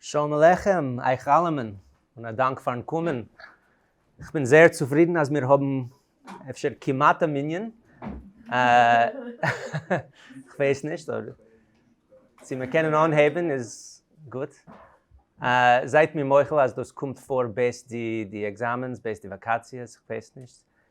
שלום עליכם אייך אלעמען, און א דאנק פארן קומען. איך בין זייער צופרידן אז מיר האבן אפשר כמעט א מנין. איך ווייס נישט אויב צו מיר קענען אנהייבן איז גוט. זייט מיר מוחל אז דאס קומט פאר בעת די עקזאמענס, בעת די וואקאציעס, איך ווייס נישט.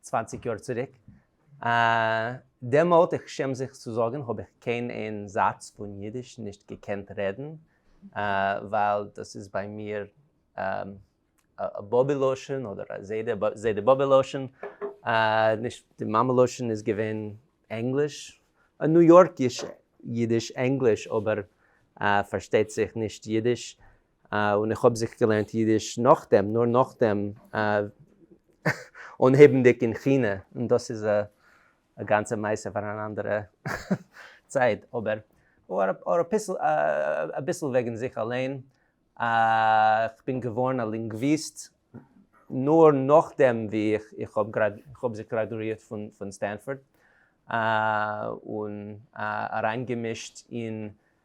צוואַנציק יאר צוריק, דעמאלט, איך שעם זיך צו זאגן, האב איך קיין איין זאץ פון אידיש נישט געקענט רעדן, ווייל דאס איז ביי מיר א באבי לשון אדער א זיידע באבע לשון, נישט די מאמע לשון איז געווען ענגליש, א ניו יארקיש אידיש ענגליש, אבער פארשטייט זיך נישט אידיש, און איך האב זיך געלערנט אידיש נאכדעם, נאר נאכדעם אנהייבנדיג אין כינע, און דאס איז א גאנצע מעשה פאר אן אנדערע צייט, אבער אביסל וועגן זיך אליין, איך בין געווארן א לינגוויסט נאר נאכדעם ווי איך האב זיך גראדואירט פון סטענפארד, און אריינגעמישט אין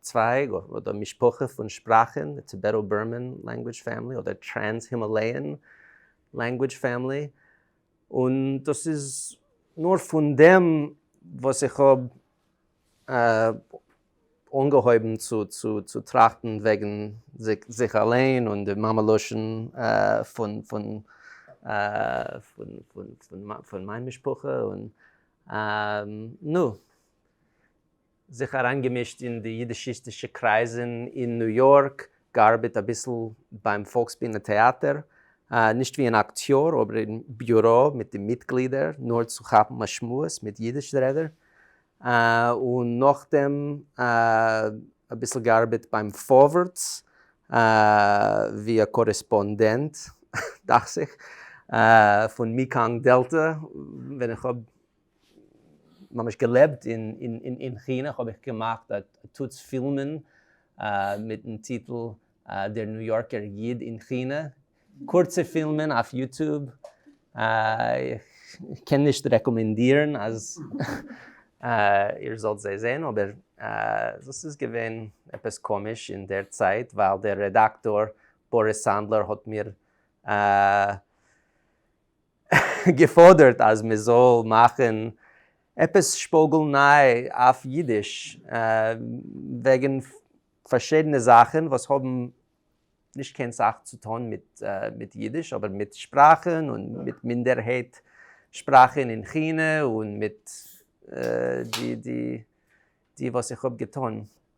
צווייג אדער משפחה פון שפראכען, די טיבעטא-בורמען לענגווידזש פעמילי אדער טרענס-הימאלעיען לענגווידזש פעמילי, און דאס איז נאר פון דעם וואס איך האב אנגעהויבן צו טראכטן וועגן זיך אליין און די מאמע לשון פון מיין משפחה, און נו. זיך אריינגעמישט אין די יידישיסטישע קרייזען אין ניו יארק, געארבעט אביסל ביים פאלקסבינע טעאטער, נישט ווי אן אקטיאר אבער אין ביורא מיט די מיטגלידער נאר צו כאפן א שמועס מיט יידיש רעדער, און נאכדעם אביסל געארבעט ביים פארווערטס ווי א קארעספאנדענט דאכט זיך פון מעקאנג דעלטע ווען איך האב ממש געלעבט אין כינע האב איך געמאכט א טוץ פילמען מיטן טיטל דער ניו יארקער איד אין כינע, קורצע פילמען אויף יוטוב, איך קען נישט רעקאמענדירן אז איר זאלט זיי זען, אבער דאס איז געווען עפעס קאמיש אין דער צייט ווייל דער רעדאקטאר באריס סאנדלער האט מיר געפאדערט אז מען זאל מאכן עפעס שפאגל ניי אויף אידיש וועגן פארשידענע זאכן וואס האבן נישט קיין סאך צו טון מיט אידיש אבער מיט שפראכן און מיט מינדערהייט שפראכן אין כינע און מיט די וואס איך האב געטון.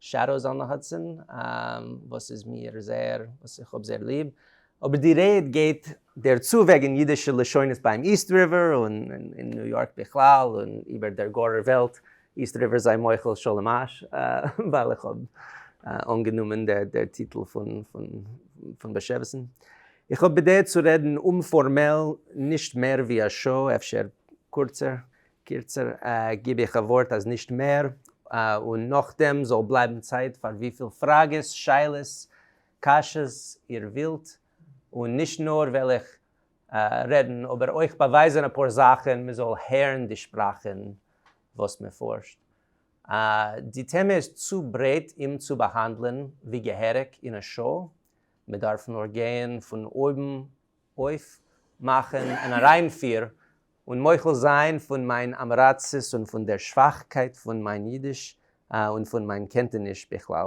שעדאוס אן די האדסאן וואס איז מיר זייער וואס איך האב זייער ליב. אבער די רעד גייט דער צו וועגן אידישע לשונות ביים איסט ריווער און אין ניו יארק בכלל און איבער דער גארער וועלט, איסט ריווער זיי מוחל שלום אש ווייל איך האב אנגענומען דער טיטל פון באשעוויסן. איך האב בדעה צו רעדן אומפארמעל נישט מער ווי א שעה אפשר קורצער. קירצער גיב איך א ווארט אז נישט מער, און נאכדעם זאל בלייבן צייט פאר וויפיל פראגעס, שאלות, קשיות איר ווילט, און נישט נאר וועל איך רעדן אבער אויך באווייזען אפאר זאכען מען זאל הערן די שפראכען וואס מען פארשט. די טעמע איז צו ברייט אים צו באהאנדלען ווי געהעריג אין א שעה, מען דארף נאר גייען פון אויבן אויפמאכן אן אריינפיר און מוחל זיין פון מיין אמעראצעס און פון דער שוואכקייט פון מיין אידיש און פון מיין קענטעניש בכלל.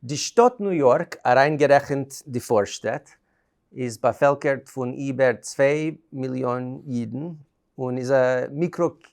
די שטאט ניו יארק, אריינגערעכנט די פארשטעט, איז באפעלקערט פון איבער צוויי מיליאן אידן און איז א מיקרא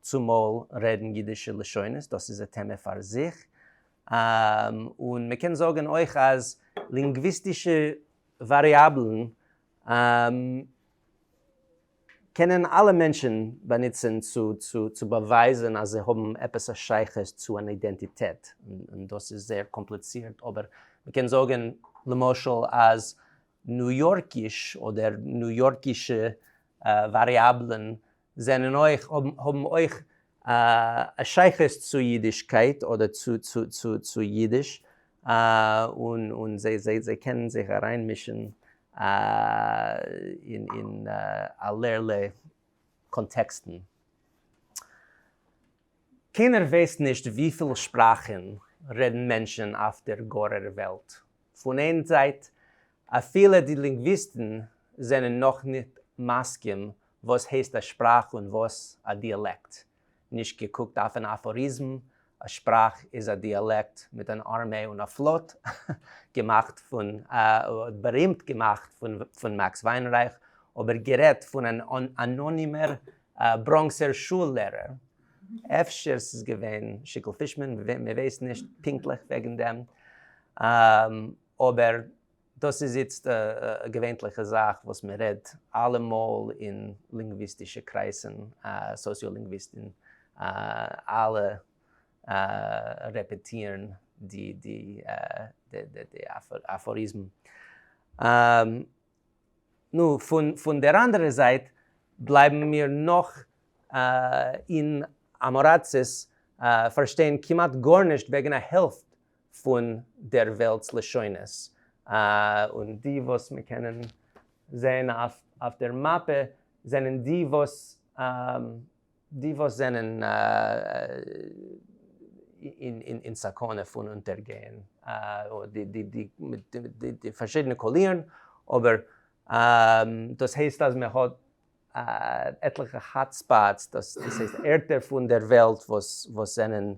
צומאל רעדן אידישע לשונות, דאס איז א טעמע פאר זיך. און מען קען זאגן אויך אז לינגוויסטישע וואריאבלן קענען אלע מענטשן באנוצען צו באווייזען אז זיי האבן עפעס א שייכות צו אן אידענטיטעט, און דאס איז זייער קאמפליצירט, אבער מען קען זאגן למשל אז ניו יארקיש אדער ניו יארקישע וואריאבלן זענען אויך, האבן אויך א שייכות צו אידישקייט אדער צו אידיש, און זיי קענען זיך אריינמישן אין אלערלע קאנטעקסטן. קיינער ווייסט נישט וויפיל שפראכן רעדן מענטשן אויף דער גארער וועלט, פון איין זייט, אפילו די לינגוויסטן זענען נאך נישט מסכים וואס הייסט א שפראך און וואס א דיאלעקט, נישט געקוקט אויפן אפאריזם, א שפראך איז א דיאלעקט מיט אן ארמעי און א פלאט, געמאכט פון, בארימט געמאכט פון מעקס וויינרייך, אבער גערעדט פון אן אנאנימער בראנקסער שול לערער. אפשר ס'איז געווען שיקל פישמאן, מ'ווייסט נישט פונקטליך וועגן דעם, אבער דאס איז איצט א געווענטליכע זאך וואס מ'רעדט אלעמאל אין לינגוויסטישע קרייזן, סאציאלינגוויסטן אלע רעפעטירן די אפאריזם. נו, פון דער אנדערער זייט בלייבן מיר נאך אין אמאראצעס פארשטיין כמעט גארנישט וועגן א העלפט פון דער וועלטס לשונות, און די וואס מיר קענען זען אויף דער מאפע זענען די וואס. די וואס זענען אין סכנה פון אונטערגייען, די פארשידענע קאלירן, אבער דאס הייסט אז מען האט עטליכע האט ספאטס, דאס הייסט ערטער פון דער וועלט וואס זענען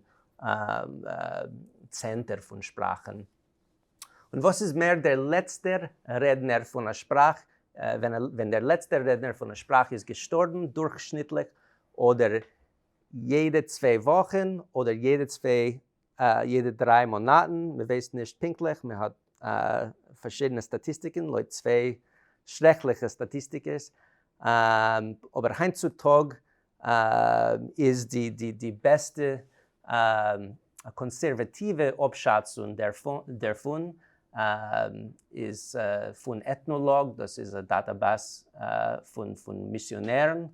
צענטער פון שפראכן. און וואס איז מער דער לעצטער רעדנער פון א שפראך, ווען דער לעצטער רעדנער פון א שפראך איז געשטארבן דורכשניטליך אדער יעדע צוויי וואכן אדער יעדע צוויי יעדע דריי מאנאטן, מען ווייסט נישט פונקטליך, מען האט פארשידענע סטאטיסטיקן לויט צוויי שרעקליכע סטאטיסטיקעס, אבער היינט צו טאג איז די די די בעסטע קאנסערוועטיווע אפשאצונג דערפון איז פון עטנאלאג דאס איז א דאטאבעס פון פון מיסיאנערן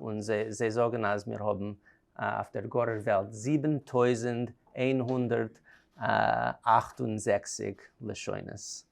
און זיי זאגן אז מיר האבן אויף דער גארער וועלט זיבן טויזנט איין הונדערט אַכט און זעכציק לשונות.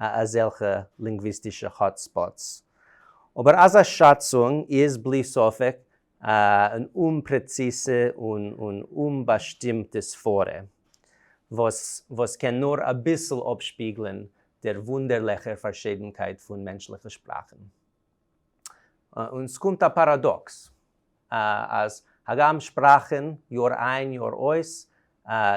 א אזעלכע לינגוויסטישע האט ספאטס. אבער אזא שאצונג איז בלי ספק אן אומפרעציזע און אומבאשטימטע סברה, וואס קען נאר אביסל אפשפיגלען דער וואונדערליכער פארשידנקייט פון מענטשליכע שפראכן. און ס'קומט א פאראדאקס, אז הגם שפראכן יאר איין יאר אויס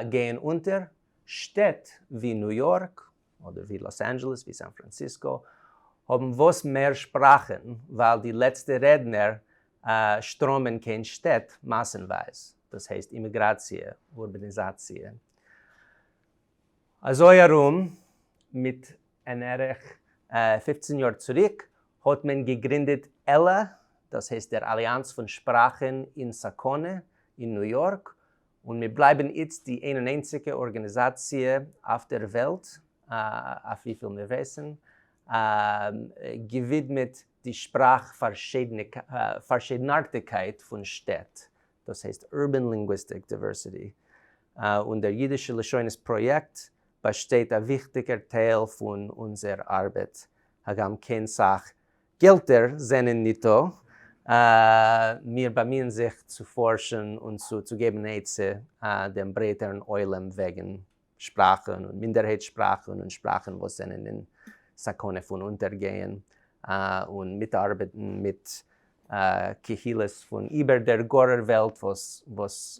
גייען אונטער, שטעט ווי ניו יארק, אדער ווי לאס אנדזשעלעס ווי סאן פראנסיסקא האבן וואס מער שפראכען ווייל די לעצטע רעדנער שטראמען קיין שטעט מאסענווייז דאס הייסט אימיגראציע אורבעניזאציע אזוי ארום מיט אין ערך פֿופֿצן יאר צוריק האט מען געגרינדעט עלא דאס הייסט דער אליאנץ פון שפראכען אין סאקונע אין ניו יארק און מיר בלייבן איצט די איין און איינציגע ארגאניזאציע אויף דער וועלט, אויף וויפיל מיר ווייסן, געווידמעט די שפראך פארשידנארטיקייט פון שטעט, דאס הייסט Urban Linguistic Diversity, און דער אידישע לשונות פראיעקט באשטייט א וויכטיגער טייל פון אונזער ארבעט, הגם קיין סאך געלטער זענען ניטא, מיר באמיען זיך צו פארשן און צו צו געבן עצה דעם ברייטערן עולם וועגן שפראכן און מינדערהייט שפראכן און שפראכן וואס זענען אין סכנה פון אונטערגייען, און מיטארבעטן מיט קהילות פון איבער דער גארער וועלט וואס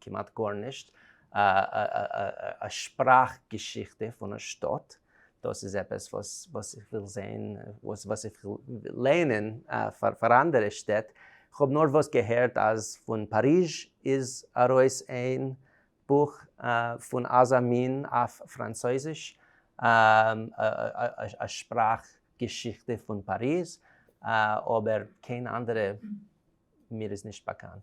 כמעט גארנישט, א שפראך געשיכטע פון א שטאט, דאס איז עפעס וואס איך וויל זעהן, וואס איך וויל לערנען פאר אנדערע שטעט, כ'האב נארוואס געהערט אז פון פאריזש איז ארויס איין בוך פון אזא מין אויף פראנצויזיש, א שפראך געשיכטע פון פאריז, אבער קיין אנדערע מיר איז נישט באקאנט.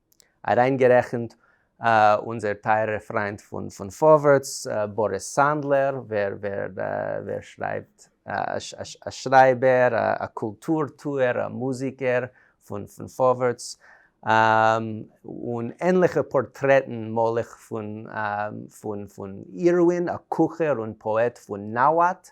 אריינגערעכנט אונזער טייערער פריינט פון פארווערטס, באריס סאנדלער, ווער שרייבט, א שרייבער, א קולטור טוער, א מוזיקער פון פארווערטס, און ענליכע פארטרעטן, מלך פון אירווין, א קוכער און פאעט פון נאוואט,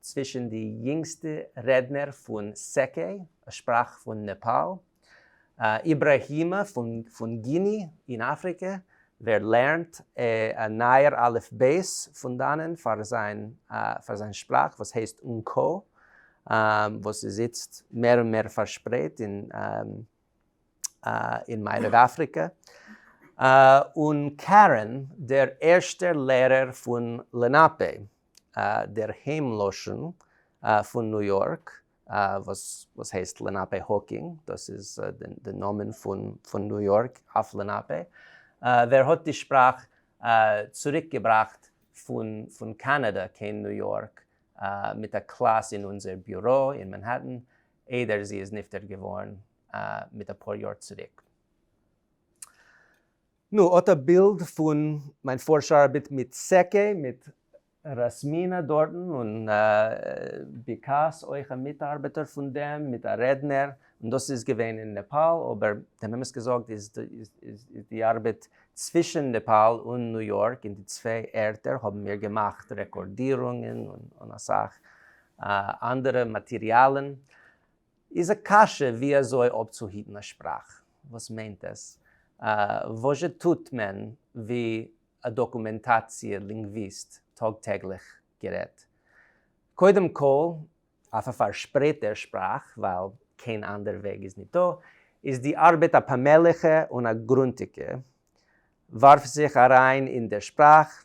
צווישן די יונגסטע רעדנער פון סעקעי, א שפראך פון נעפאל, איבראהימע פון גיני אין אפריקע, ווער לערנט א נייער אלף בית פון דאנען פאר זיין שפראך וואס הייסט אנקאו, וואס איז איצט מער און מער פארשפרייט אין מערב אפריקע, און קארען, דער ערשטער לערער פון לענאפי, דער היים לשון פון ניו יארק וואס הייסט לענאפע האוקינג, דאס איז די נאמען פון ניו יארק אויף לענאפע, ווער האט די שפראך צוריק געבראכט פון קאנאדע קיין ניו יארק מיט א קלאס אין אונזער ביורא אין מענהעטן איידער זי איז נפטר געווארן מיט אפאר יאר צוריק. נו, אט א בילד פון מיין פארש ארבעט מיט סעקי, מיט ראסמינא דארטן, און ביקאס אויך א מיטארבעטער פון דעם, מיט א רעדנער, און דאס איז געווען אין נעפאל, אבער דעם אמת געזאגט איז די ארבעט צווישן נעפאל און ניו יארק, אין די צוויי ערטער האבן מיר געמאכט רעקארדירונגען און אסאך אנדערע מאטיריאלן, איז א קשיא ווי אזוי אפצוהיטן א שפראך, וואס מיינט עס, וואזשע טוט מען ווי א דאקומענטאציע לינגוויסט טאג טעגליך גערעדט, קודם כל אויף א פארשפרייטער שפראך ווייל קיין אנדער וועג איז ניט דא, איז די ארבעט א פאמעליכע און א גרונטיגע, ווארף זיך אריין אין דער שפראך,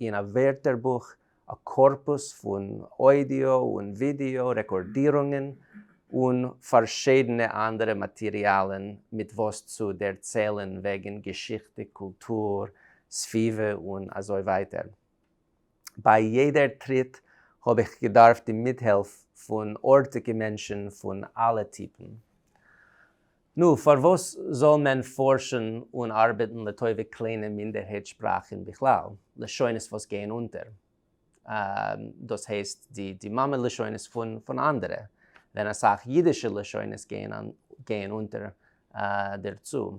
אין א ווערטערבוך, א קארפוס פון אודיאו און ווידעאו רעקארדירונגען און פארשידענע אנדערע מאטעריאלען מיט וואס צו דערציילען וועגען געשיכטע, קולטור, סביבה און אזוי ווייטער. ביי יעדער טריט האב איך געדארפט די מיטהעלף פון ארטיגע מענטשען פון אלע טיפן. נו, פארוואס זאל מען פארשן און ארבעטן לטובת קליינע מינדערהייט שפראכן בכלל, לשונות וואס גייען אונטער, דאס הייסט די מאמע לשונות פון אנדערע, ווען אסאך אידישע לשונות גייען אונטער דערצו?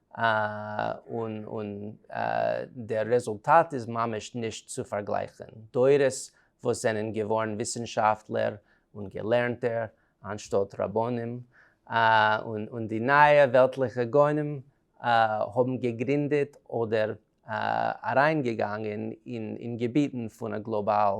און דער רעזולטאט איז ממש נישט צו פארגלייכן, דורות וואס זענען געווארן וויסנשאפטלער און געלערנטער אנשטאט רבנים, און די נייע וועלטליכע גאונים האבן געגרינדעט אדער אריינגעגאנגען אין געביטן פון א גלאבאל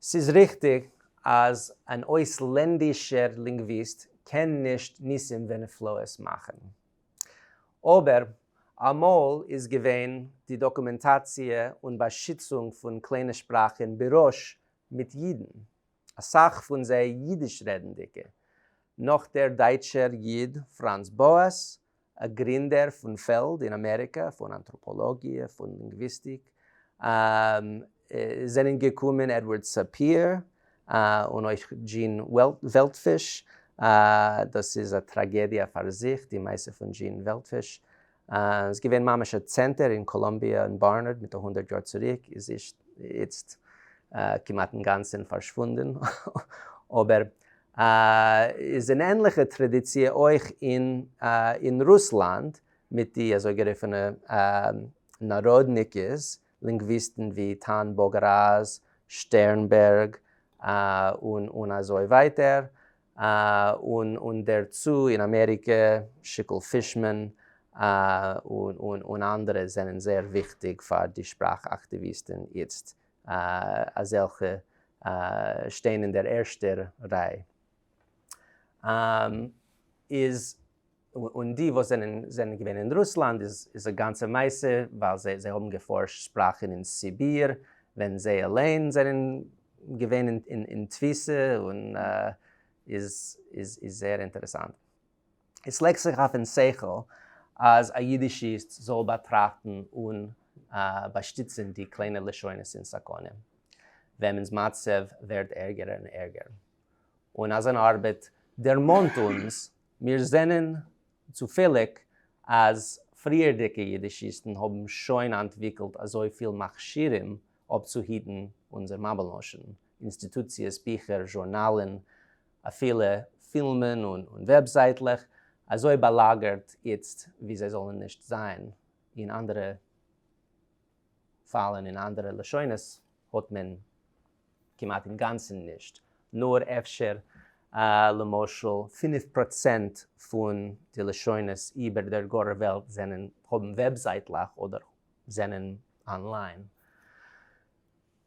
ס'איז ריכטיג אז אן אויסלענדישער לינגוויסט קען נישט ניסים ונפלאות מאכן. אבער אמאל איז געווען די דאקומענטאציע און באשיצונג פון קליינע שפראך אין בראש מיט אידן, אסאך פון זיי אידיש-רעדנדיקע, נאך דער דייטשער איד פראנץ באאס, א גרינדער פון פעלד אין אמעריקע פון אנטראפאלאגיע, פון לינגוויסטיק, זענען געקומען עדווארד סאפיר, און אויך דזשין וועלטפיש, דאס איז א טראגעדיע פאר זיך די מעשה פון דזשין וועלטפיש, איז געווען ממש א צענטער אין קאלאמביע און בארנארד מיט א הונדערט יאר צוריק, איז איצט כמעט אינגאנצען פארשוואונדען, אבער איז אן ענליכע טראדיציע אויך אין רוסלאנד מיט די אזויגערופענע נאראדניקעס, לינגוויסטן ווי טאן באגראז, שטערנבערג, און אזוי ווייטער, און דערצו אין אמעריקע שיקל פישמאן און אנדערע זענען זייער וויכטיג פאר די שפראך אקטיוויסטן איצט אזעלכע שטיין אין דער ערשטער ריי, איז און די וואס זענען זענען געווען אין רוסלאנד איז א גאנצע מעשה ווייל זיי זיי האבן געפארשט שפראכן אין סיביר ווען זיי אליין זענען געווען אין תפיסה און איז איז איז זייער אינטערעסאנט. עס לייגט זיך אויף אין שכל אז א אידישיסט זאל באטראכטן און באשטיצען די קליינע לשונות אין סכנה וועמענס מצב ווערט ערגער און ערגער און אזאן ארבעט דערמאנט אונז מיר זענען צופעליג אז פריערדיגע אידישיסטן האבן שוין אנטוויקלט אזוי פיל מכשירים אפצוהיטן אונזער מאבעלנאשן, אינסטיטוציעס, ביכער, זשורנאלן, אפילו פילמען און וועבזייטלעך אזוי באלאגערט איצט ווי זיי זאלן נישט זיין אין אנדערע פאלן אין אנדערע לשונות האט מען כמעט אינגאנצן נישט נאר אפשר למשל פינף פראצענט פון די לשונות איבער דער גארער וועלט זענען האבן וועבזייטלעך אדער זענען אנליין.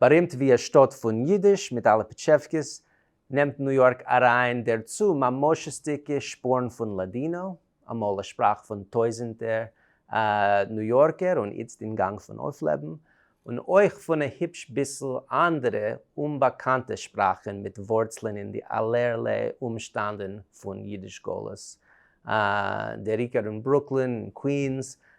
בארימט ווי א שטאט פון אידיש מיט אלע פיטשעווקעס, נעמט ניו יארק אריין דערצו ממושות'דיגע שפורן פון לאדינא, אמאל א שפראך פון טויזענטער ניו יארקער און איצט אין גאנג פון אויפלעבן, און אויך פון א היפש ביסל אנדערע אומבאקאנטע שפראכן מיט ווארצלען אין די אלערליי אומשטענדן פון אידיש גלות, דער עיקר אין ברוקלין, אין קווינס,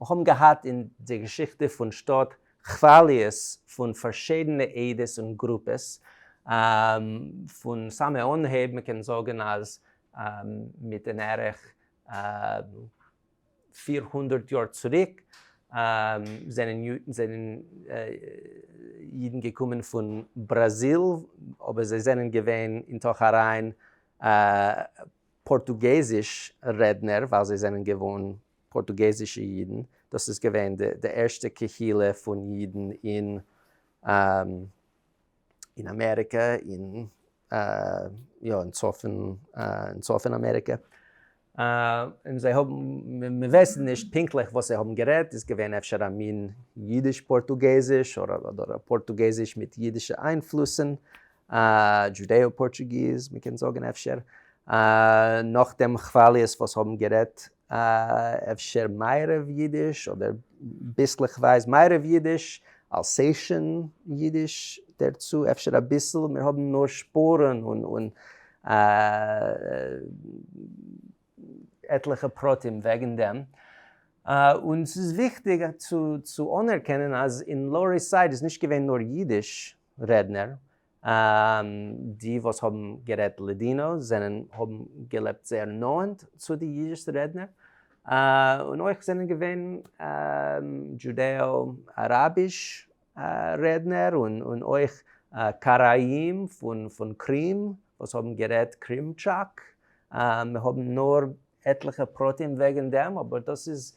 מיר האבן געהאט אין די געשיכטע פון שטאט כוואליעס פון פארשידענע עדות און גרופעס, פון סאמע אנהייב, מען קען זאגן אז מיט אין ערך פיר הונדערט יאר צוריק זענען אידן געקומען פון בראזיל, אבער זיי זענען געווען אין תוך אריין פארטוגעזיש רעדנער ווייל זיי זענען געוואוינט פארטוגעזישע אידן, דאס איז געווען די ערשטע קהילה פון אידן אין אין אמעריקע, אין יא אין צפון אמעריקע, און זיי האבן, מיר ווייסן נישט פונקטליך וואס זיי האבן גערעדט, איז געווען אפשר א מין אידיש פארטוגעזיש, אדער א פארטוגעזיש מיט אידישע איינפלוסן, דזשודעא פארטשוגיז מ'קען זאגן אפשר, נאך דעם כוואליעס וואס האבן גערעדט אפשר מערב יידיש אדער ביסלעכווייז מערב יידיש, אלסעישן יידיש דערצו אפשר אביסל, מיר האבן נאר שפורן און עטליכע פרטים וועגן דעם, און ס'איז וויכטיג צו אנערקענען אז אין לאוער איסט סייד איז נישט געווען נאר יידיש, רעדנער, און די וואס האבן גערעדט לאדינא זענען האבן געלעבט זייער נאענט צו די אידיש רעדנער, און אויך זענען געווען דזשודעא אראביש רעדנער און אויך קראים פון קרים וואס האבן גערעדט קרימטשאק, מיר האבן נאר עטליכע פרטים וועגן דעם אבער דאס איז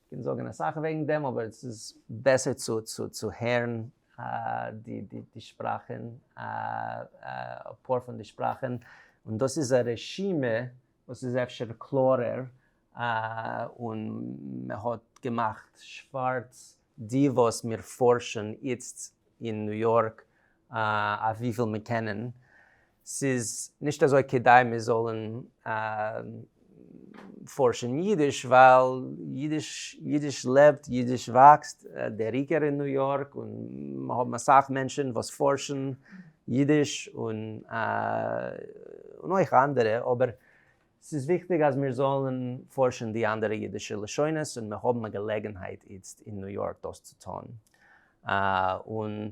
קען זאגן אסאך וועגן דעם אבער עס איז בעסער צו הערן די שפראכן אפאר פון די שפראכן און דאס איז א רשימה וואס איז אפשר קלארער און מען האט געמאכט שווארץ די וואס מיר פארשן איצט אין ניו יארק אויף וויפיל מיר קענען ס'איז נישט אזוי כדאי מיר זאלן פארשן אידיש, ווייל אידיש לעבט, אידיש וואקסט, דער עיקר אין ניו יארק, און מ'האבן אסאך מענטשן וואס פארשן אידיש, און אויך אנדערע, אבער ס'איז וויכטיג אז מיר זאלן פארשן די אנדערע אידישע לשונות, און מיר האבן א געלעגנהייט איצט אין ניו יארק דאס צו טון, און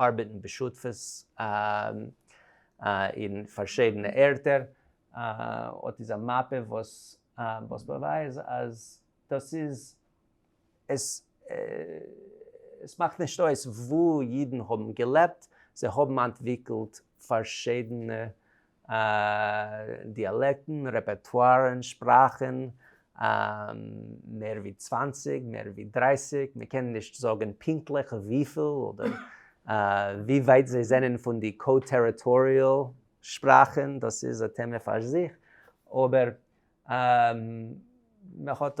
ארבעטן בשותפות אין פארשידענע ערטער. אט איז א מאפע וואס באווייז אז דאס איז עס. עס מאכט נישט אויס וואו אידן האבן געלעבט, זיי האבן אנטוויקלט פארשידענע. דיאלעקטן, רעפערטוארן, שפראכן, מער ווי צוואַנציק, מער ווי דרייסיג, מען קען נישט זאגן פונקטליך וויפיל אדער ווי ווייט זיי זענען פון די קא-טעריטאריעל שפראכן, דאס איז א טעמע פאר זיך, אבער מען האט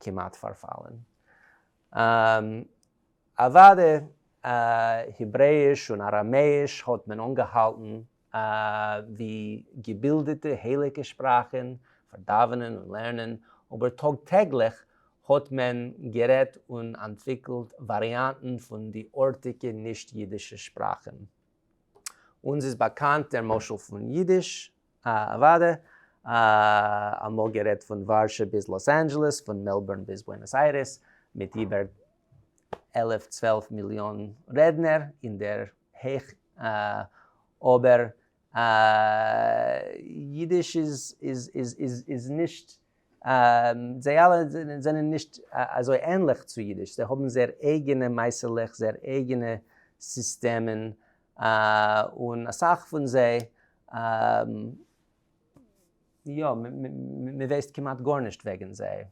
כמעט פארפאלן. אוואדע העברעיש און אראמעיש האט מען אנגעהאלטן ווי געבילדעטע הייליגע שפראכן פאר דאווענען און לערנען, אבער טאג טעגליך האט מען גערעדט און אנטוויקלט וואריאנטן פון די ארטיגע נישט אידישע שפראכן. אונז איז באקאנט דער משל פון אידיש אוואדע, אה, אמאל גערעדט פון ווארשע ביז לאס אנדזשעלעס, פון מעלבורן ביז בוענאס איירעס, מיט איבער עלף צוועלף מיליאן רעדנער אין דער הייך, אה, אבער אה, אידיש איז, איז, איז, איז, איז נישט, אה, זיי אלע זענען נישט אזוי ענליך צו אידיש, זיי האבן זייער אייגענע מעשה'לעך, זייער אייגענע סיסטעמען, און אסאך פון זיי, יא, מען ווייסט כמעט גארנישט וועגן זיי.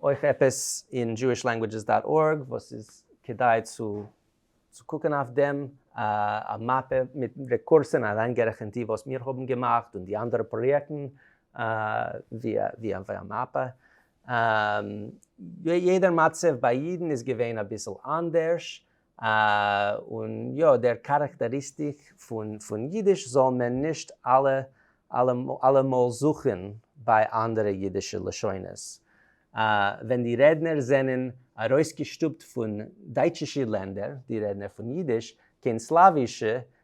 אויך עפעס אין Jewish Languages dot org וואס איז כדאי צו קוקן אויף דעם, א מאפע מיט רעקורסען אריינגערעכנט די וואס מיר האבן געמאכט און די אנדערע פראיעקטן, ווי א מאפע יא, יעדער מצב ביי יעדן איז געווען אביסל אנדערש, און יא, דער כאראקטעריסטיק פון אידיש זאל מען נישט אלעמאל זוכן ביי אנדערע אידישע לשונות. ווען די רעדנער זענען ארויסגעשטופט פון דייטשישי לענדער, די רעדנער פון אידיש, קיין סלאווישע,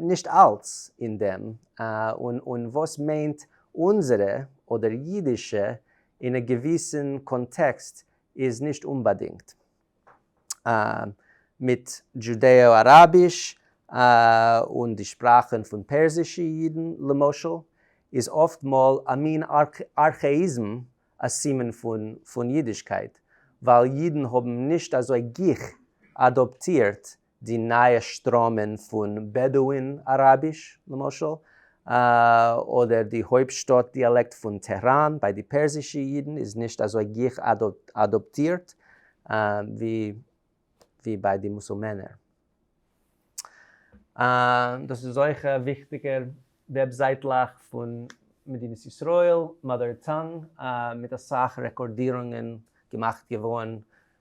נישט אלץ אין דעם, און וואס מיינט אונזערע אדער אידישע אין א געוויסן קאנטעקסט איז נישט אומבאדינגט מיט דזשודעא אראביש, און די שפראכן פון פערסישע אידן למשל איז אפט מאל א מין ארכעאיזם א סימן פון אידישקייט ווייל אידן האבן נישט אזוי גיך אדאפטירט די נייע שטראמען פון בעדואין אראביש למשל, אדער די הויפטשטאט דיאלעקט פון טעהראן ביי די פערסישע אידן איז נישט אזוי גיך אדאפטירט ווי ביי די מוסולמענער. דאס איז אויך א וויכטיגע וועבזייטלעך פון מדינת ישראל, מאדער טאנג, מיט אסאך רעקארדירונגען געמאכט געווארן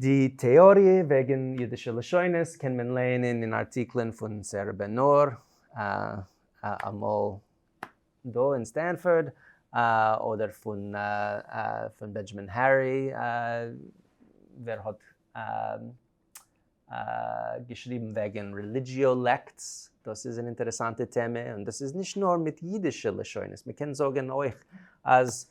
די טעאריע וועגן אידישע לשונות קען מען לערנען אין ארטיקלען פון סערע בן נור, אמאל דא אין סטענפארד, אדער פון בענדזשאמין הערי ווער האט געשריבן וועגן רעליגיאו לעקטס, דאס איז אן אינטערעסאנטע טעמע, און דאס איז נישט נאר מיט אידישע לשונות, מען קען זאגן אויך אז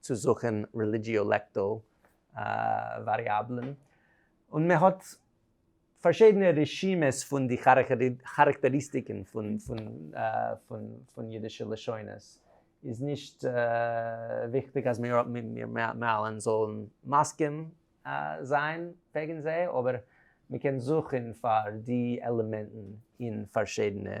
צו זוכן רעליגיאו-לעקטאו וואריאבלען, און מען האט פארשידענע רשימות פון די כאראקטעריסטיקן פון אידישע לשונות, איז נישט וויכטיג אז מיר אלע זאלן מסכים זיין וועגן זיי, אבער מען קען זוכן פאר די עלעמענטן אין פארשידענע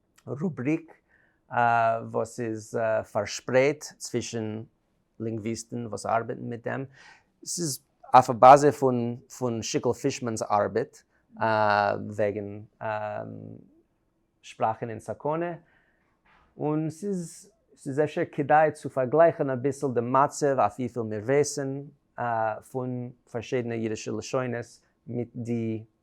רובריק וואס איז פארשפרייט צווישן לינגוויסטן וואס ארבעטן מיט דעם, ס'איז אויף א באזע פון שיקל פישמאן'ס ארבעט וועגן שפראכן אין סכנה, און ס'איז אפשר כדאי צו פארגלייכן אביסל די מצב אויף וויפיל מיר ווייסן פון פארשידענע אידישע לשונות מיט די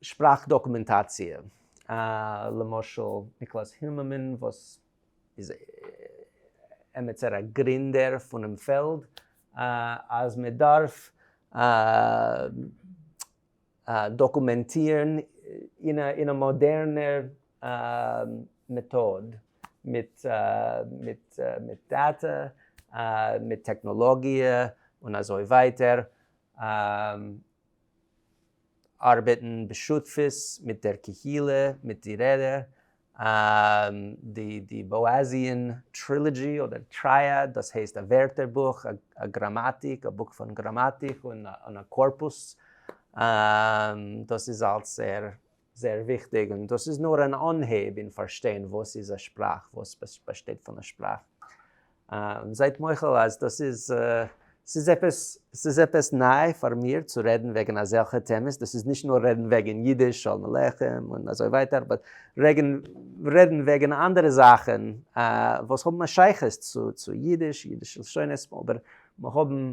שפראך דאקומענטאציע, למשל ניקלאס היממען וואס איז עמיצער א גרינדער פונעם פעלד, אז מען דארף דאקומענטירן אין א מאדערנער מעטאד מיט דאטע, מיט טעכנאלאגיע און אזוי ווייטער. ארבעטן בשותפות מיט דער קהילה, מיט די רעדע, די באאזיען טרילאדזשי אדער טרייעד, דאס הייסט א ווערטער בוך, א גראמאטיק, א בוק פון גראמאטיק און א קארפוס, דאס איז אלס ער זייער וויכטיג, און דאס איז נאר אן אנהייב אין פארשטיין וואס איז א שפראך, וואס באשטייט פון א שפראך, און זייט מוחל אז דאס איז, ס'איז עפעס, ס'איז עפעס ניי פאר מיר צו רעדן וועגן אזעלכע טעמעס, דאס איז נישט נאר רעדן וועגן אידיש, שלום עליכם און אזוי ווייטער, באט רעדן וועגן אנדערע זאכן וואס האבן א שייכות צו אידיש, אידישע לשונות, אבער האבן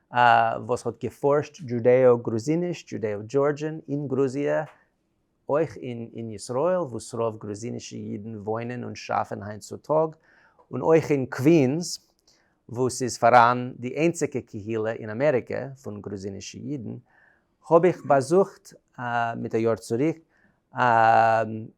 א וואס האט געפארשט דזשודעאו גרוזיניש, Judeo Georgian, אין גרוזיע, אויך אין אין ישראל וואס רוב גרוזינישע אידן וואוינען און שאפן היינט צו טאג, און אויך אין קווינס וואו ס'איז פאראן די איינציגע קהילה אין אמעריקע פון גרוזינישע אידן, האב איך באזוכט מיט א יאר צוריק א.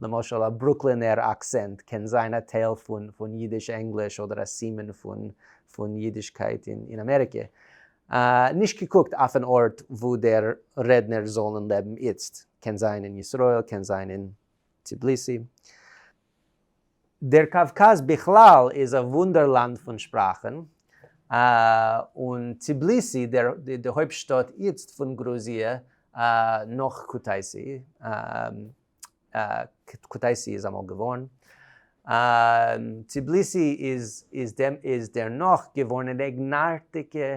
למשל א ברוקלינער אקסענט קען זיין א טייל פון אידיש ענגליש אדער א סימן פון אידישקייט אין אמעריקע, נישט געקוקט אויפן ארט וואו דער רעדנער זאלן לעבן איצט, קען זיין אין ישראל קען זיין אין טבליסי. דער קאווקאז בכלל איז א וואונדערלאנד פון שפראכן, און טביליסי, די הויפט שטאט איצט פון גרוזיע נאך קוטייסי, קוטייסי איז אמאל געווארן, טביליסי איז דערנאך געווארן אן אייגנארטיגע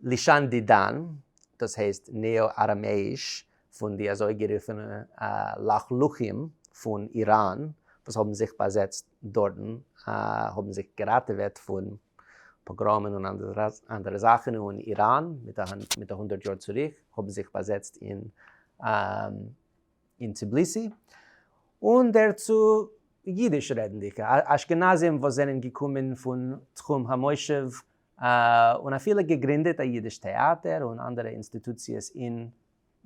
לשון דידן, דאס הייסט נעא-אראמעיש פון די אזויגערופענע לחלוחים פון איראן וואס האבן זיך באזעצט דארטן, האבן זיך געראטעוועט פון פאגראמען און אנדערע זאכן, און איראן מיט א הונדערט יאר צוריק האבן זיך באזעצט אין טביליסי, און דערצו אידיש רעדנדיגע אשכנזים וואס זענען געקומען פון תחום המושב און אפילו געגרינדעט א אידיש טעאטער און אנדערע אינסטיטוציעס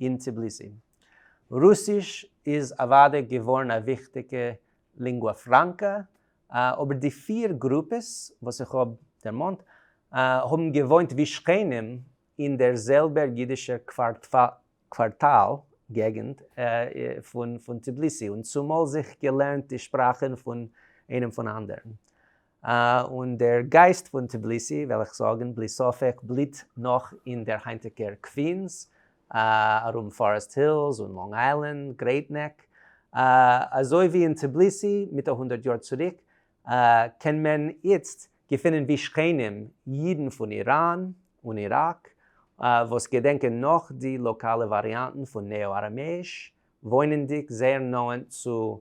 אין טביליסי. רוסיש איז אוודאי געווארן א וויכטיגע לינגווא פראנקא, אבער די פיר גרופעס וואס איך האב דערמאנט האבן געוואוינט ווי שכנים אין דער זעלבער אידישער קווארטאל געגנט פון טביליסי און צומאל זיך געלערנט די שפראכן פון איינעם פון אנדערן. און דער גייסט פון טביליסי וועל איך זאגן בלי ספק בליט נאך אין דער היינטיגער קווינס, ארום פארעסט הילס און לאנג איילענד, גרעיט נעק. אזוי ווי אין טביליסי מיט א הונדערט יאר צוריק, קען מען איצט געפינען ווי שכנים אידן פון איראן און איראק, וואס געדענקען נאך די לאקאלע וואריאנטן פון נעא-אראמעיש, וואוינענדיג זייער נאענט צו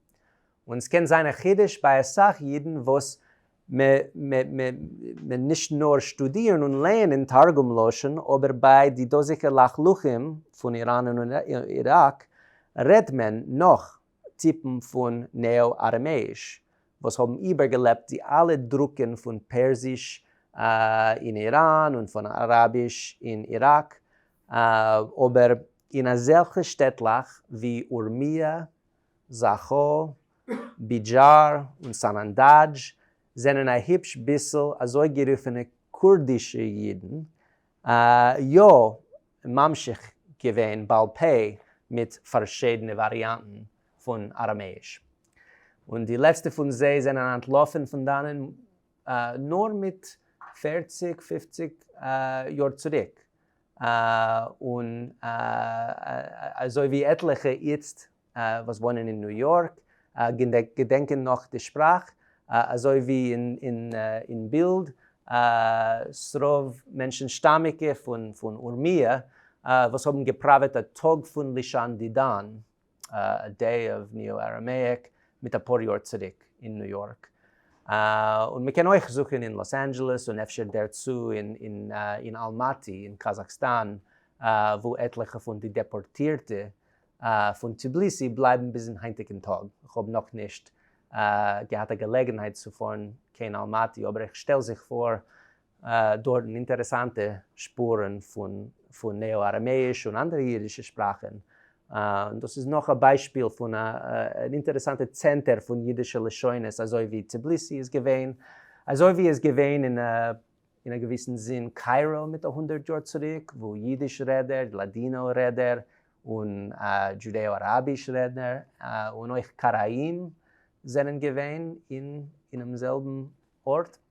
און ס'קען זיין א חידוש ביי אסאך אידן וואס מען נישט נאר שטודירן און לערנען תרגום לשון, אבער ביי די דאזיגע לחלוחים פון איראן און איראק רעדט מען נאך טיפן פון נעא-ארעמעיש, וואס האבן איבערגעלעבט די אלע דרוקן פון פערסיש אין איראן און פון אראביש אין איראק, אבער אין אזעלכע שטעטלעך ווי אורמיה, זאכא, בידזשאר און סאנאנדאדזש זענען א היפש ביסל אזויגערופענע קורדישע אידן, יא, ממשיך געווען בעל פה מיט פארשידענע וואריאנטן פון אראמעיש. און די לעצטע פון זיי זענען אנטלאפן פון דאנען נאר מיט פערציג-פופציג יאר צוריק, און אזוי ווי עטליכע איצט וואס וואוינען אין ניו יארק געדענקען נאך די שפראך, אזוי ווי אין בילד, ס'רוב מענטשן שטאמיגע פון אורמיה וואס האבן געפראוועט א טאג פון לישן די דאן. א דעי אוו ניו אראמעיק מיט אפאר יאר צוריק אין ניו יארק, און מען קען אויך זוכען אין לאס אנדזשעלעס און אפשר דערצו אין אלמאטי אין קאזאקסטאן וואו עטליכע פון די דעפארטירטע פון טביליסי בלייבן ביזן היינטיגן טאג, כ'האב נאכנישט געהאט א געלעגנהייט צו פארן קיין אלמאטי אבער איך שטעל זיך פאר דארטן אינטערעסאנטע שפורן פון נעא-אראמעיש און אנדערע אידישע שפראכן, און דאס איז נאך א ביישפיל פון א אינטערעסאנטע צענטער פון אידישע לשונות אזוי ווי טביליסי איז געווען, אזוי ווי איז געווען אין א געוויסן זין קיירא מיט א הונדערט יאר צוריק, וואו אידיש רעדער, לאדינא רעדער, און דזשודעא-אראביש רעדנער, און אויך קארעאים זענען געווען אינעם זעלבן ארט.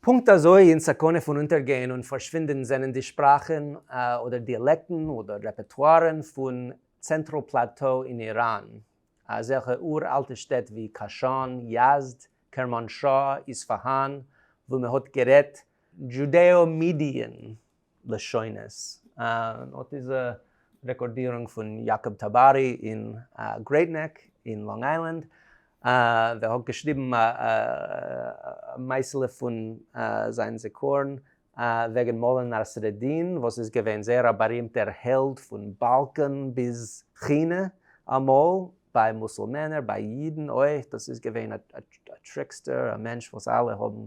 פונקט אזוי אין סכנה פון אונטערגיין און פארשווינדען זענען די שפראכען אדער דיאלעקטן אדער רעפערטוארען פון צענטראל פלאטאו אין איראן, אזעלכע אור אלטע שטעט ווי קאשאן, יעזד, קערמאנשאה', איספאהאן, וואו מען האט גערעדט דזשודעא-מידיען לשונות. און אט איז א רעקארדירונג פון יאקאב טאבארי אין גרעיט נעק אין לאנג איילענד, ווער האט געשריבן א מעשה'לע פון זיין זיכרון וועגן מולא נאסרעדין וואס איז געווען זייער א בארימטער העלד פון באלקאן ביז כינע אמאל, ביי מוסולמענער, ביי אידן אויך, דאס איז געווען א טריקסטער, א מענטש וואס אלע האבן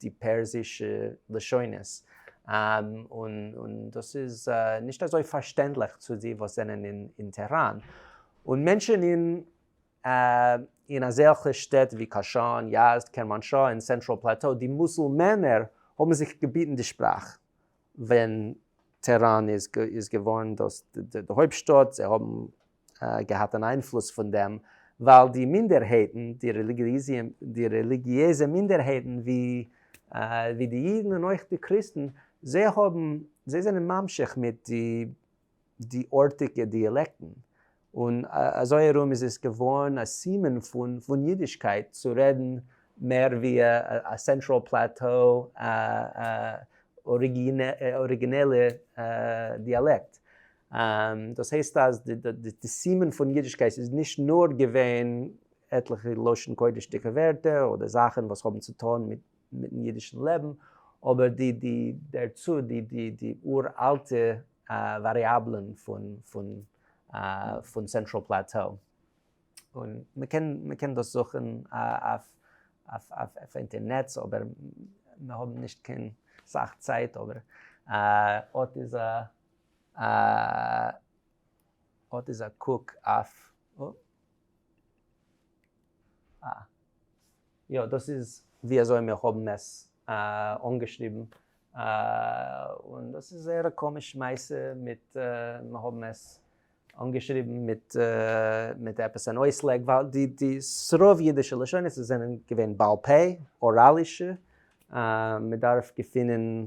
די פערסישע לשונות, און דאס איז נישט אזוי פארשטענדליך צו די וואס זענען אין טעהראן, און מענטשן אין אזעלכע שטעט ווי קאשאן, יעזד, קערמאנשאא און סענטראל פלעטאו, די מוסולמענער האבן זיך געביטן די שפראך ווען טעהראן איז געווארן די הויפטשטאט, זיי האבן געהאט אן איינפלוס פון דעם, ווייל די מינדערהייטן, די רעליגיעזע מינדערהייטן ווי די אידן און אויך די קריסטן, זיי האבן, זיי זענען ממשיך מיט די ארטיגע דיאלעקטן, און אזוי ארום איז עס געווארן א סימן פון אידישקייט צו רעדן מער ווי א סענטראל פלעטאו אריגינעלע דיאלעקט. דאס הייסט אז די סימן פון אידישקייט איז נישט נאר געווען עטליכע לשון קודש'דיגע ווערטער אדער זאכן וואס האבן צו טון מיטן אידישן לעבן, אבער דערצו די אור אלטע וואריאבלען פון סענטראל פלעטאו, און מען קען דאס זוכן אויף אינטערנעץ אבער מיר האבן נישט קיין סאך צייט, אבער אט איז א. אה, אט איז א קוק אויף. אה. יא, דאס איז ווי אזוי מיר האבן עס אנגעשריבן. און דאס איז זייער א קאמיש מעשה מיט, מיר האבן עס אנגעשריבן מיט מיט עפעס אן אויסלייג, ווייל די די ס'רוב אידישע לשונות זענען געווען בעל פה, אוראלישע, מ'דארף געפינען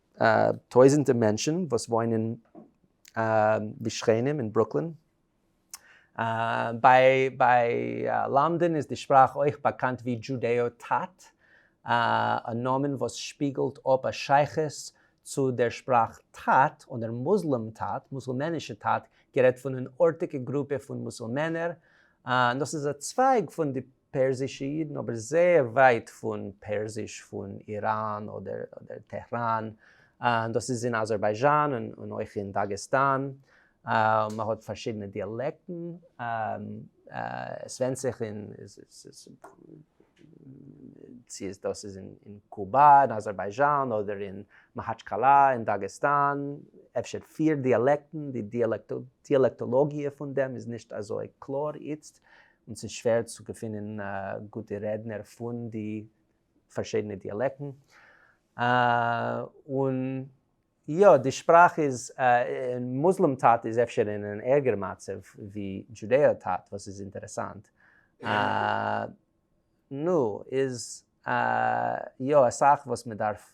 טויזענטע מענטשן וואס וואוינען ווי שכנים אין ברוקלין. ביי לאנדאן איז די שפראך אויך באקאנט ווי דזשודעאו טאט, א נאמען וואס שפיגלט אפ א שייכות צו דער שפראך טאט, אדער מוסלעם טאט, מוסולמענישע טאט, גערעדט פון אן ארטיגע גרופע פון מוסולמענער. דאס איז א צווייג פון די פערסישע אידן, אבער זייער ווייט פון פערסיש פון איראן אדער טעהראן, דאס איז אין אזערבייזשאן און אויך אין דאגעסטאן, מען האט פארשידענע דיאלעקטן, עס ווענדט זיך צו דאס איז אין קובא אין אזערבייזשאן אדער אין מאהאטשקאלא אין דאגעסטאן, אפשר פיר דיאלעקטן, די דיאלעקטאלאגיע פון דעם איז נישט אזוי קלאר איצט, און ס'איז שווער צו געפינען גוטע רעדנער פון די פארשידענע דיאלעקטן. און יא, די שפראך איז, און מוסלעם טאט איז אפשר אין אן ערגער מצב ווי דזשודעא טאט, וואס איז אינטערעסאנט. נו, איז יא אסאך וואס מ'דארף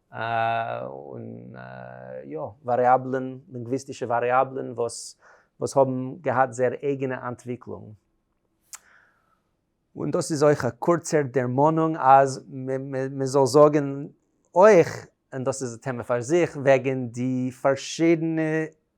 און יא, וואריאבלען, לינגוויסטישע וואריאבלען וואס וואס האבן געהאט זייער אייגענע אנטוויקלונג. און דאס איז אויך א קורצער דערמאנונג אז מען זאל זאגן אויך, און דאס איז א טעמע פאר זיך, וועגן די פארשידענע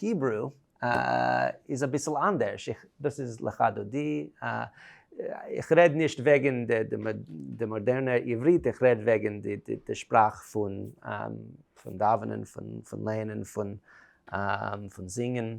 היברו איז אביסל אנדערש, איך, דאס איז לכה דודי, איך רעד נישט וועגן די מאדערנע עברית, איך רעד וועגן די שפראך פון דאווענען, פון לערנען, פון זינגען.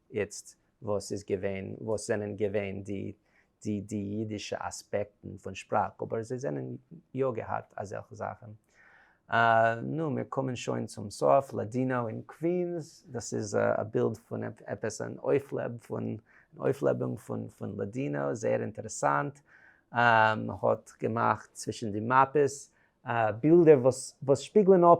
איצט וואס איז געווען, וואס זענען געווען די די די אידישע אספעקטן פון שפראך, אבער זיי זענען יא געהאט אזעלכע זאכן. נו, מיר קומען שוין צום סוף, לאדינאו אין קווינס, דאס איז א בילד פון עפעס אן אויפלעב פון אויפלעבונג פון פון לאדינאו, זייער אינטערעסאנט, מ'האט געמאכט צווישן די מאפעס בילדער וואס וואס שפיגלען אפ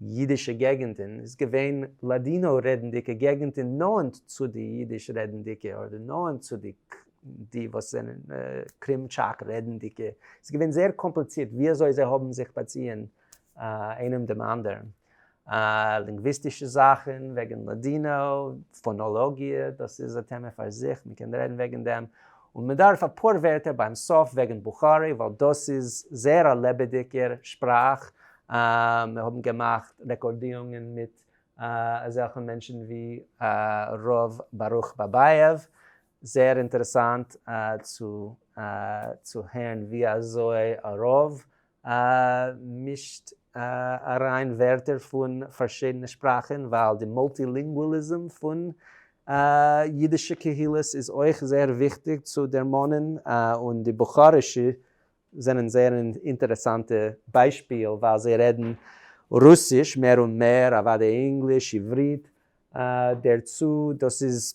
ייִדישע געגנטן, איז געווען לאַדינאָ-רעדנדיקע געגנטן נאָענט צו די ייִדיש-רעדנדיקע, אָדער נאָענט צו די, די, וואָס זענען קרימטשאַק-רעדנדיקע. ס'איז געווען זייער קאָמפּליצירט, ווי אַזוי זיי האָבן זיך באַציִען איינעם דעם אַנדערן. לינגוויסטישע זאַכן וועגן לאַדינאָ, פֿאָנאָלאָגיע, דאָס איז אַ טעמע פֿאַר זיך, מע קען רעדן וועגן דעם. און מ'דארף אפאר ווערטער ביים סוף וועגן בוכארי ווייל דאס איז זייער א לעבעדיגער שפראך, מיר האבן געמאכט רעקארדירונגען מיט אזעלכע מענטשן ווי ר' ברוך באבייעוו, זייער אינטערעסאנט צו הערן ווי אזוי א רב א מישט אריין ווערטער פון פארשידענע שפראכן ווייל די מולטילינגואליזם פון אידישע קהילות איז אויך זייער וויכטיג צו דערמאנען און די בוכארישע זענען זייער אן אינטערעסאנטע ביישפיל ווייל זיי רעדן רוסיש מער און מער אוודאי ענגליש עברית דערצו דאס איז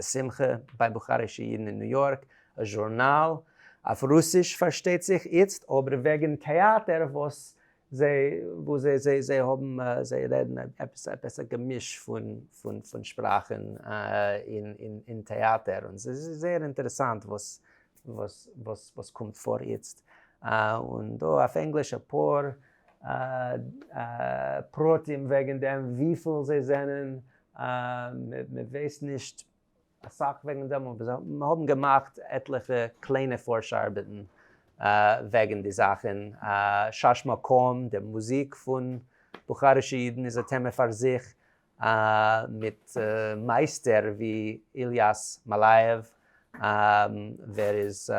א שמחה ביי בוכארישע אידן אין ניו יארק, א זשורנאל, אויף רוסיש פארשטייט זיך, איצט אבער וועגן טעאטער וואס זיי זיי האבן, זיי רעדן עפעס א געמיש פון שפראכן אין טעאטער, און ס'איז זייער אינטערעסאנט וואס קומט פאר איצט, און דא אויף ענגליש אפאר פרטים וועגן דעם, וויפיל זיי זענען, מען ווייסט נישט אסאך וועגן דעם אבער זיי האבן געמאכט עטליכע קליינע פארש ארבעטן וועגן די זאכן. שש מקום, די מוזיק פון בוכארישע אידן איז א טעמע פאר זיך, מיט מייסטער ווי איליאס מאלייעוו ווער איז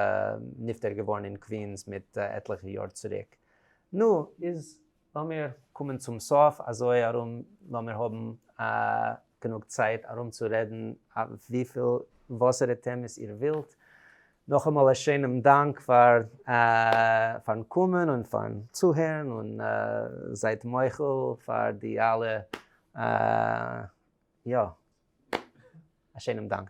נפטר געווארן אין קווינס מיט עטליכע יאר צוריק. נו, איז לאמיר קומען צום סוף, אזוי ארום לאמיר האבן גענוג צייט ארום צו רעדן אויף וויפיל וואסערע טעמעס איר ווילט. נאכאמאל א שיינעם דאנק פארן קומען און פארן צוהערן, און זייט מוחל פאר די אלע יא. א שיינעם דאנק.